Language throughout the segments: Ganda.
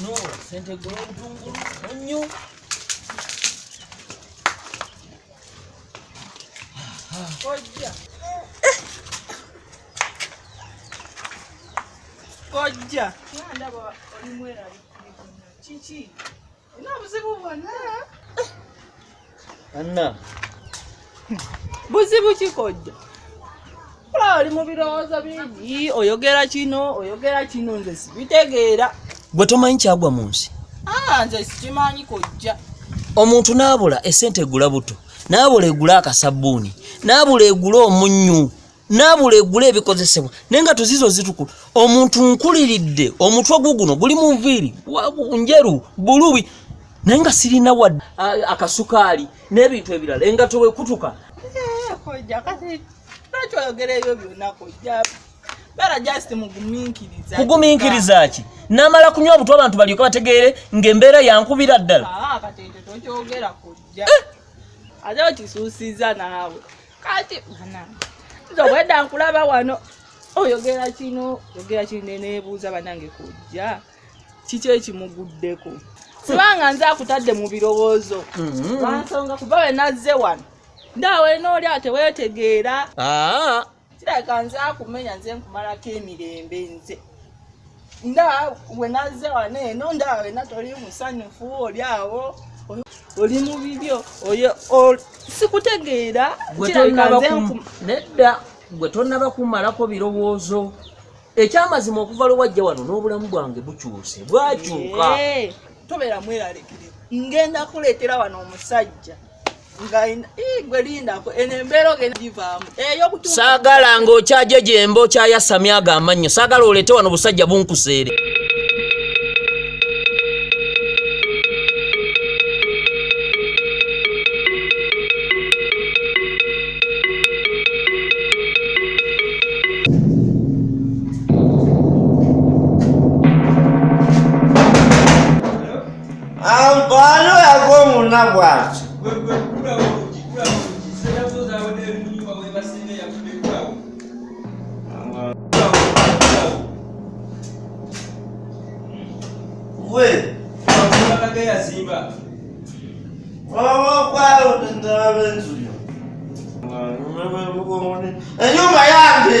no sente gula obutungulu onnyo kojja kojja ndaba olimweralikirivu kiki ina obuzibu bwonna anna buzibu kikojja kulaba oli mu birowoozo bingi oyogera kino oyogera kino nze sibitegeera gwe tomanyi kyagwa mu nsi ah, nze sikimanyi kojja omuntu naabula esente egula buto naabula egula akasabbuuni naabula egula omunnyu nabula egula ebikozesebwa naye nga tuzizo zitukula omuntu nkuliridde omutwe guguno guli mu nviiri njeru bulubi naye nga sirina wa akasukaali n'ebintu ebirala engato wekutuka kugumiikiriza ki namala kunywa obutwa abantu balyoke bategeere ngaembeera yankubira ddala ah, eh! kati nze obwedda nkulaba wano oyogera kino yogera kino neneebuuza banange kujja kiki ekimuguddeko sibanga nze akutadde mu birowoozo mm-hmm. lwansonga kuba we nazze wano ndaawe nooli awo teweetegeera ah. kirabika nze akumenya nze nkumalako emirembe nze nda wenaze wane eno nda wena toli musanyufu oli awo oli mu bibyo oyo sikutegeera nedda gwe tonaba kumalako birowoozo ekyamazima okuva lwewajja wano n'obulamu bwange bukyuse bwakyuka tobeera mweralekire ngenda kuleetera wano omusajja saagala ng'okyajo gyemba okyayasamya ago amannyo saagala oleete wano busajja bunkuseere Ampano yako muna bwaki. We. Enyumba yange.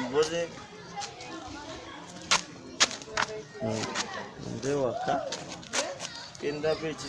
Ngozi nde waka kenda beki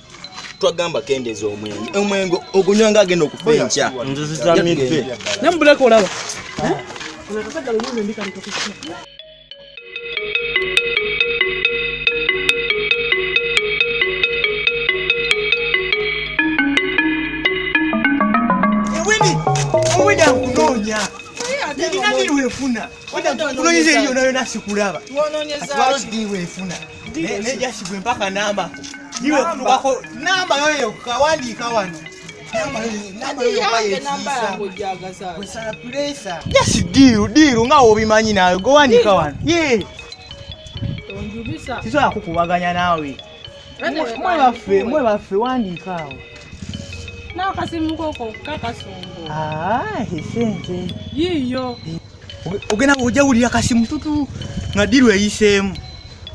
twagamba kendeza omwenge omwenge ogunywa nga agenda okufa enkya nzizitamidde nemubuleka olaba Wenda nkunoonya nina biri wefuna wenda nkunonyeza eriyo nayo nasikulaba atwalo dii wefuna nejashigwe mpaka namba iwe kutukako namba yoyo kawandiika wano jasi diiru diiru nga wobimanyi nawe gowandiika wano tisobola kukubaganya naawe mwe baffe mwe baffe wandiika awo n'akasimu koko kakasongo sente yiiyo ogenda ojawulira kasi mututu nga diru eyiseemu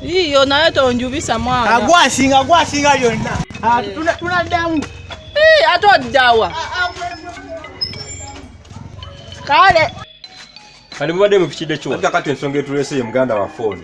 iyo naye tonjubisa mwana agwasinga agwasinga lyonna ah, tunaddamu ate oddawa ah, ah, kale kali mubadde mupikidde kiwa kati ensonga etuleese ye muganda wa fooni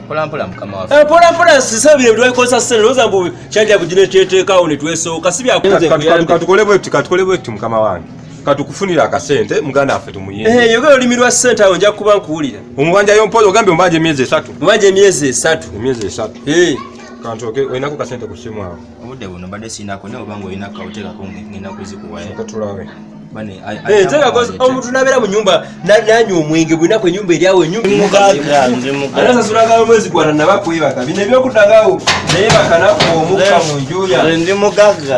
mpolampola mukama waffe eh, mpolampola sisabye ebitwakosa sente loza mbu kyaja bugine kyeteekawo ne twesooka si byakutukole bwetti katukole bwetti mukama wange katukufunira akasente muganda waffe tumuyeyogera eh, hey, olimi lwa sente awo nja kuba nkuwulira omubanja yompola ogambye omubanja emyezi esatu omubanja emyezi esatu emyezi esatu hey. Eh. kantoke olinako kasente ku simu awo obudde buno mbadde siinako naye obanga olina kawuteekako ngenda kuzikuwayo eh, omuntu nabeera mu nyumba nanywa omwenge bulinaku enyumba eryawo enyumbaasasulaga omwezi gwana naba kwebaka bino ebyokudangawo naye bakanaku omukka mu njuya ndi mugagga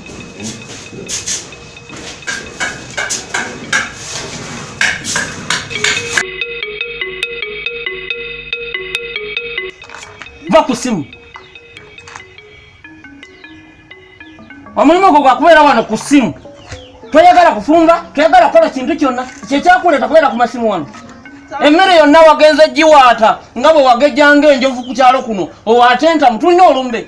Va ku simu. Omulimu gwo gwa kubeera wano ku simu. Toyagala kufumba, toyagala kukola kintu kyonna. Kyekyakuleeta kubeera ku masimu wano. emmere yonna wagenze giwaata nga bwe wagejjanga enjovu ku kyalo kuno owaatenta mutulina olumbe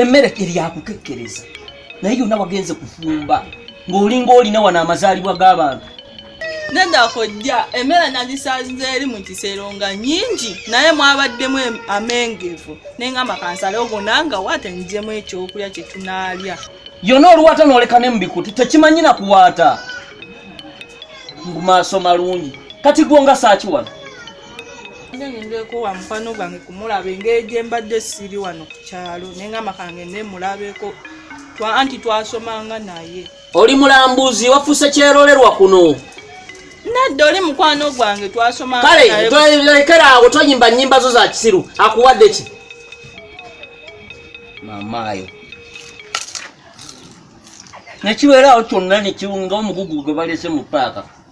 emmere eryakukekkereza naye yonna wagenze kufumba ng'olinga olina wano amazaalibwa g'abantu nedda kojja emmere nagisaziza eri mu kisero nga nyingi naye mwabaddemu amengevu naye nga makansala ogona nga waata nijemu ekyokulya kye tunaalya yona oluwaata nooleka ne mu bikuti tekimanyi na kuwaata mu maaso malungi kati gwo nga saaki wano ngendeko wa mukwano gwange kumulaba engeri gye mbadde siri wano ku kyalo naye nga makange ne mulabeko anti twasomanga naye oli mulambuzi wafuuse kyerolerwa kuno nedda oli mukwano gwange twasomanga kale lekera awo toyimba nyimba zo za kisiru akuwadde ki mamaayo nekibeeraawo kyonna nekiwunga omugugu gwe balese mu paaka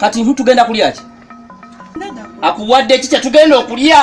kati nhu tugenda kulya ki akuwadde ki kyetugenda okulya